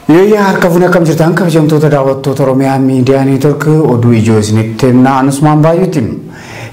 Yooyyaa harka fuunee akkam jirtan kabajamtoota daawwattoota Oromiyaa miidiyaa neetwork oduu ijoo isinitti himna anusmaan baay'eetti.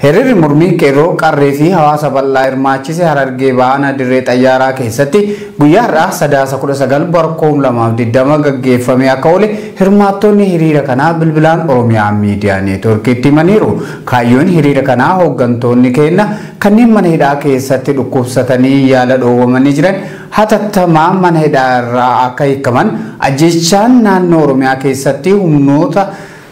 Hiriirri mormii qeerroo qarree fi hawaasa bal'aa hirmaachise harargee ba'aana dirree xayyaaraa keessatti guyyaa har'aa sadaasa 19 bara 2020 gaggeeffamee akka oole hirmaattonni hiriira kanaa bilbilaan Oromiyaa miidiyaa neetworkiitti himaniiru. Kaayyoon hiriira kanaa hooggantoonni keenya kanneen mana hidhaa keessatti dhukkubsatanii yaala dhoowwamanii jiran hatattamaan mana hidhaa irraa akka hiikkaman, ajjeechaan naannoo Oromiyaa keessatti humnoota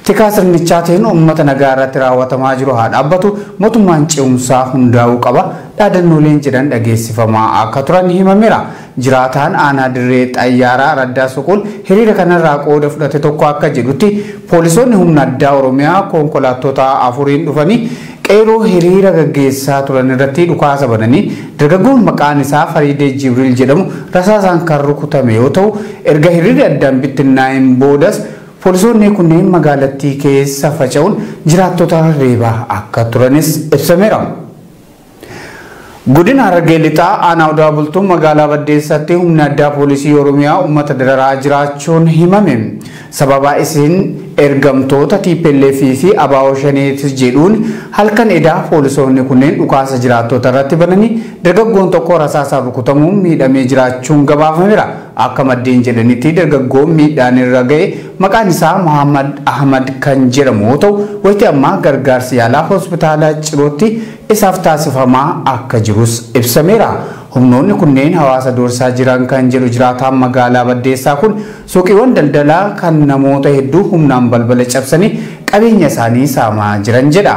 tikaa sirnichaatiin uummata nagaa irratti raawwatamaa jiru haa dhaabbatu, mootummaan ce'umsaa hundaa'uu qaba dhaadannooleen jedhan dhageessifamaa akka turan himameera. Jiraataan aanaa Dirree Xayyaaraa Raddaa Suquul hiriira kanarraa qooda fudhate tokko akka jedhutti, poolisoonni humna addaa Oromiyaa konkolaattota afuriin dhufanii, Qeerroo hiriira gaggeessaa turan irratti dhukaasa bananii dargaggoon maqaan isaa Fariidee Jibriil jedhamu rasaasaan kan rukutame yoo ta'u, erga hiriirri addaan bittinnaa'een boodas poolisoonni kunneen magaalattii keessa faca'uun jiraattota reebaa akka turanis ibsameera. Godina Harargee Lixaa Aanaa Odaa Bultum Magaalaa Baddeessaatti Humni Addaa Poolisii Oromiyaa Uummata Dararaa Jiraachuun Himame. Sababa Isin Ergamtoota tplf fi Abaawoo Shanee ti Jedhuun Halkan Edaa Poolisoonni Kunneen Dhukaasa Jiraattoota Irratti Bananii Dargaggoon Tokko Rasaasaan Rukutamuun Miidhamee Jiraachuun Gabaafamera. Akka Maddeen Jedhanitti Dargaggoon Miidhaan Irra Ga'e Maqaan Isaa Mohammad Ahmad Kan Jedhamu Yoo Ta'u Wayita Ammaa Gargaarsi Yaalaa Hospitaala Cirootti isaaf taasifamaa akka jirus ibsameera. Humnoonni kunneen hawaasa doorsaa jiran kan jedhu jiraataan magaalaa Baddeessaa kun, suuqiiwwan daldalaa kan namoota hedduu humnaan balbala cabsanii qabeenya isaanii saamaa jiran jedha.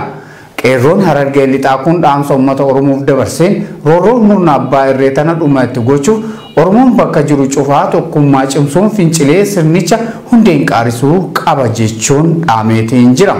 Qeerroon Harargee Lixaa kun dhaamsa ummata Oromoof dabarseen, roorroo murna abbaa irree tana dhuma itti gochuuf Oromoon bakka jiru cufaa tokkummaa cimsuun fincilee sirnicha hundeen qaarisuu qaba jechuun dhaameetiin jira.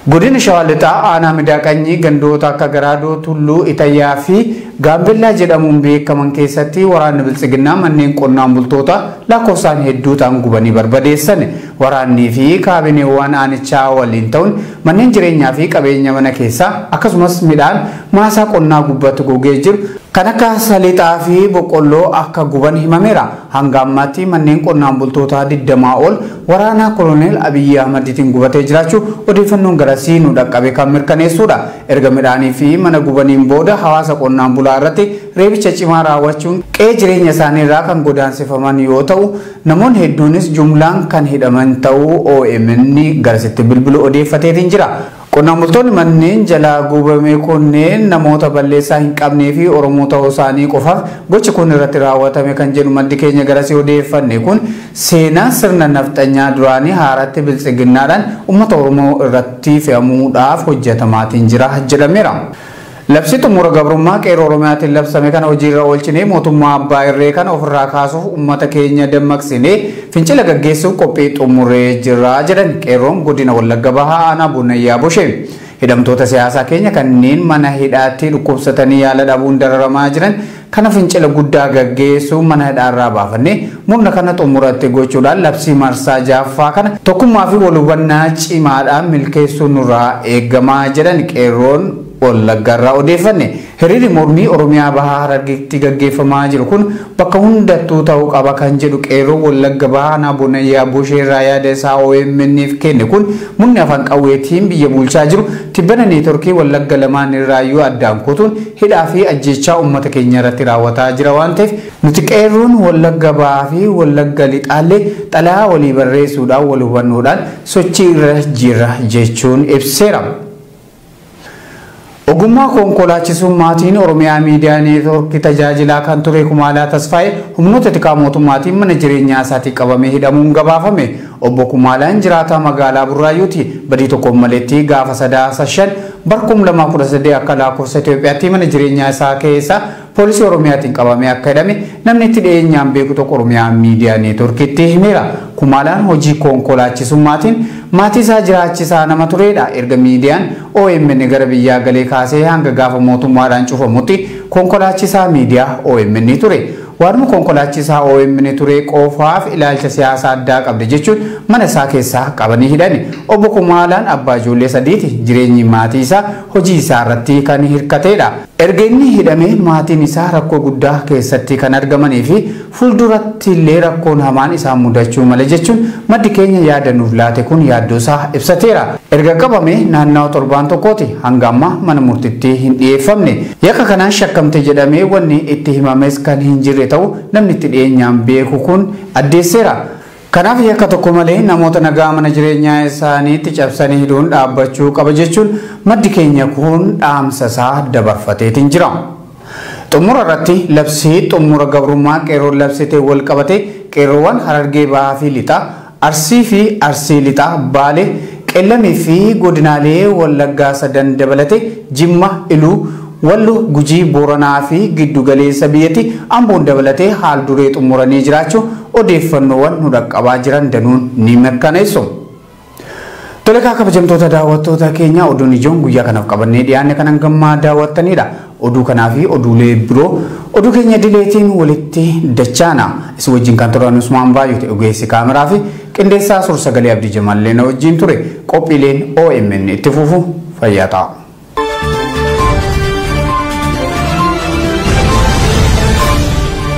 Godina Shawaa Lixaa aanaa Midaa Qanyii gandoota akka Garaadoo, Tulluu, Itayyaa fi Gaambellaa jedhamuun beekaman keessatti waraanni Biltsiginnaa manneen qonnaan bultoota lakkoofsaan hedduu ta'an gubanii barbadeessan. Waraannii fi kaabineewwaan aanichaa waliin ta'uun manneen jireenyaa fi qabeenya mana keessaa akkasumas midhaan maasaa qonnaa gubbatti gogee jiru kan akka Saliixaa fi Boqqolloo akka guban himameera. Hanga ammaatti manneen qonnaan bultootaa 20 ol waraanaa Koloneel Abiyyii Ahmadiitiin gubatee jiraachuu odeeffannoon garasii nu dhaqqabe kan mirkaneessuudha. Erga midhaanii fi mana gubaniin booda hawaasa qonnaan bulaa irratti reebicha cimaa raawwachuun qe'ee jireenya isaanii irraa kan godaansifaman yoo ta'u, namoonni hedduunis jumlaan kan hidhaman ta'uu omn garasitti bilbilu odeeffateetiin jira. Qonnaan bultoonni manneen jalaa guubame kunneen namoota balleessaa hin qabnee fi Oromoo ta'uu isaanii qofaaf gochi kun irratti raawwatame kan jedhu maddi keenya garasii odeeffanne kun, seenaa sirna nafxanyaa duraanii haaratti Biltsiginnaadhaan ummata Oromoo irratti fe'amuudhaaf hojjatamaatiin jira jedhameera. Labsii xumura gabrummaa Qeerroo Oromiyaatiin labsame kana hojiirra oolchinee mootummaa abbaa irree kana ofirraa kaasuuf ummata keenya dammaqsinee fincila gaggeessuuf qophii xumurree jirra jedhan Qeerroon Godina Wallagga Bahaa Aanaa Bunnayyaa Boshee. Hidhamtoota siyaasaa keenya kanneen mana hidhaatti dhukkubsatanii yaala dhabuun dararamaa jiran Kana fincila guddaa gaggeessuun mana hidhaa irraa baafannee murna kana xumura itti gochuudhaan labsii marsaa 6ffaa kana tokkummaa fi wal hubannaa cimaadhaan milkeessuun nurraa eegama jedhan qeerroon Wallaggaa irraa odeeffanne. Hiriirri mormii Oromiyaa Bahaa Harargeetti gaggeeffamaa jiru kun bakka hundattuu ta'uu qaba kan jedhu qeerroon Wallagga Bahaa Aanaa Bonayyaa Boshee irraa yaada isaa OMN'f kenne kun murni afaan qawweetiin biyya bulchaa jiru Tibbana neetworkii Wallagga lamaan irraayyuu addaan kutuun hidhaa fi ajjeechaa uummata keenya irratti raawwataa jira waan ta'eef nuti qeerroon Wallagga Bahaa fi Wallagga Lixaallee xalayaa walii barreessuudhaan wal hubannoodhaan sochii irra jirra jechuun ibseera. Ogummaa konkolaachisuun maatiin Oromiyaa Miidiyaa Neetworkii tajaajilaa kan ture Kumaalaa Tasfaayee humnoota tikaa mootummaatiin mana jireenyaa isaatii qabamee hidhamuun gabaafame. Obbo Kumaalaan jiraataa magaalaa Burraayyuuti. Badii tokko hin maletti gaafa Sadaasa 5 bara 2013 akka laakofsa Itoophiyaatti mana jireenyaa isaa keessa poolisii Oromiyaatiin qabamee akka hidhame namni itti dhiyeenyaan beeku tokko Oromiyaa Miidiyaa Neetworkitti himeera. Kumaalaan hojii konkolaachisummaatiin maatii isaa jiraachisaa nama tureedha. Erga miidiyaan omn gara biyyaa galee kaasee hanga gaafa mootummaadhaan cufamutti konkolaachisaa miidiyaa omn ture. Waaduma konkolaachisaa omn turee qofaaf ilaalcha siyaasa addaa qabda jechuun mana isaa keessaa qabanii hidhani. Obbo Kumaalaan abbaa ijoollee sadiiti. Jireenyi maatii isaa hojii isaa irratti kan hirkateedha. Erga inni hidhamee maatiin isaa rakkoo guddaa keessatti kan argamanii fi fuulduratti illee rakkoon hamaan isaan mudachuu mala jechuun maddi keenya yaada nuuf laate kun yaaddoo isaa ibsateera. Erga qabamee naannawa torbaan tokkooti hanga ammaa mana murtitti hin dhiyeeffamne. Yakka kanaan shakkamte jedhamee wanni itti himames kan hin jirre ta'u namni itti dhiyeenyaan beeku kun addeesseera. Kanaaf yakka tokko malee namoota nagaa mana jireenyaa isaaniitti cabsanii hidhuun dhaabbachuu qaba jechuun maddi keenya kun dhaamsa isaa dabarfateetiin jira. Xummura irratti labsii xummura gabrummaa qeerroon labsite wal qabatee qeerroowwan Harargee Bahaa fi Lixaa, Arsii fi Arsii Lixaa, Baale, Qellem fi godinaalee Wallaggaa sadan dabalatee, Jimma, Iluu, Wallo, Gujii, Booranaa fi giddu galeessa biyyatti Amboon dabalatee haal duree xummuranii jiraachuu odeeffannoowwan nu dhaqqabaa jiran danuun ni mirkaneessu. Tole egaa kabajamtoota daawwattoota keenyaa oduun ijoon guyyaa kanaf qabannee dhiyaanne kan hangammaa daawwattaniidha. Oduu kanaa fi oduulee biroo oduu keenya idileetiin walitti dachaana. Isin wajjin kan turan Usmaan Baayyooti ogeessi kaameraa fi qindeessaa suur-sagalee Abdii Jamallee na wajjin ture. Qophiileen OMN itti fufu fayyaa ta'a.